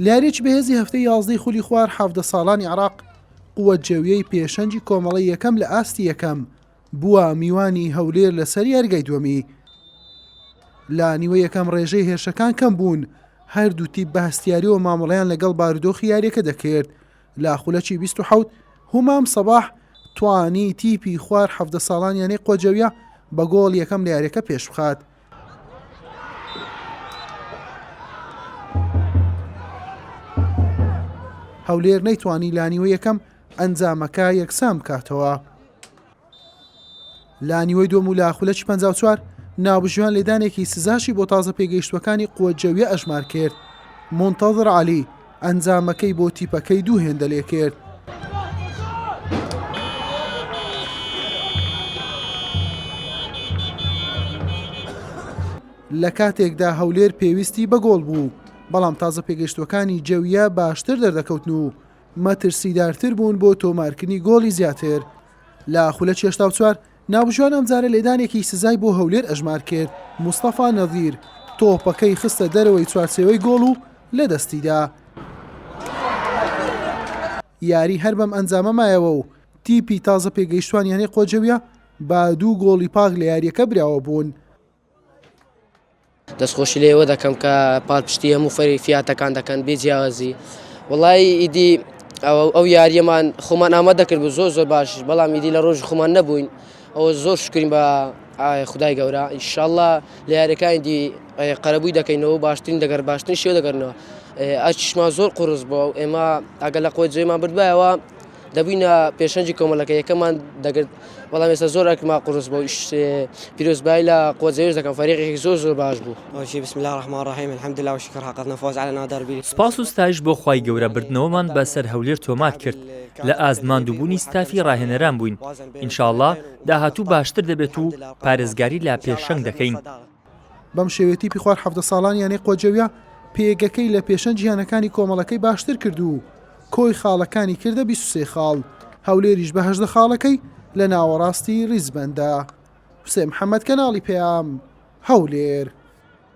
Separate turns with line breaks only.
لە یارییەکی بەهێزی هەفتەی یازدەی خولی خوار حەڤدە ساڵانی عێراق قوە جێویەی پێشەنگی کۆمەڵی یەکەم لە ئاستی یەکەم بووە میوانی هەولێر لەسەر یاریگای دووەمی لە نیوە یەکەم ڕێژەی هێرشەکان کەم بوون هەردوو تیپ بە هەستیاریەوە مامەڵیان لەگەڵ بارودۆخی یاریەکە دەکرد لە خولەکی 20 هومام سەباح توانی تیپی خوار حەفدە ساڵانیانەی قۆجەویە بە گۆڵ یەکەم لە یاریەکە پێش بخات هەولێر نەیتوانی لانیوە یەکەم ئەنجامەکە یەکسان بکاتەوە لانیوەی دۆم و لاخولەکی 54 ناوبژیوان لێدانێکی سزاشی بۆ تازە پێگەیشتوەکانی قوە جەویە ئەژمار کرد منتەظر علی ئەنجامەکەی بۆ تیپەکەی دوو هێندە لێکرد. لە کاتێکدا هەولێر پێویستی بە گۆڵ بوو، بەڵام تازە پێگەشتوەکانی جەویە باشتر دەردەکەوتن و مەترسیدارتر بوون بۆ تۆمارکردنی گۆڵی زیاتر. لە خولە چێشتاو چوار ناوبژیوان ئەمجارە لێدانێکی سزای بۆ هەولێر ئەژمار کرد، مستەفا نەزیر تۆپەکەی خستە دەرەوەی چوارچێوەی گۆڵ و لەدەستیدا. یاری هەر بەم ئەنجامە مایەوە و تیپی تازە پێگەیشتووان یانەی قۆجەویە بە دوو گۆڵی پاک لە یارییەکە براوە بوون.
دەستخۆشی لێوە دەکەم کە پاڵپشتی هەموو فەری فیاتەکان دەکەن بێ جیاوازی وڵی ئیدی ئەوە ئەو یاریەمان خۆمان ئامە دەکرد بوو زۆر زۆر باش بەڵام ئیدی لە ڕۆژ خۆمان نەبووین ئەوە زۆر شکرین بە خدای گەورە ئیشاءله لە یاریەکانی دی قەرەبووی دەکەینەوە باشترین دەگەر باشترین شێ دەگەرنەوە ئەچشما زۆر قرس بووە ئێمە ئەگەر لە قۆی جێمان بردبایەوە دەبووینە پێشەنگی کۆمەڵەکە یەکەمان دەگرت بەڵام ئێستا زۆر ئەکما قرس بۆ پیرۆزبای لە قۆزەویش دەکەم فەرێقێکی زۆر زۆر باش بوو ئەوشی بسم الله الرحمن الرحیم
الحمد لله وشکر حقق نفوز على نادر بی سپاس و ستایش بۆ
خوای گەورە بردنەوەمان بە سەر هەولێر تۆمار کرد لە ئاست ماندووبوونی ستافی ڕاهێنەران بووین ان شاء اللە داهاتوو باشتر دەبێت و پارێزگاری لە پێشەنگ دەکەین. بەم
شێوەیە تیپی خوار حەڤدە ساڵان یانەی قۆجەویە پێگەکەی لە پێشەنگی یانەکانی کۆمەڵەکەی باشتر کرد و کۆی خاڵەکانی کردە بیست و سێ خاڵ، هەولێریش بە هەژدە خاڵەکەی لە ناوەڕاستی ریزبەندە. حوسێن محەمەد، کەناڵی پەیام، هەولێر.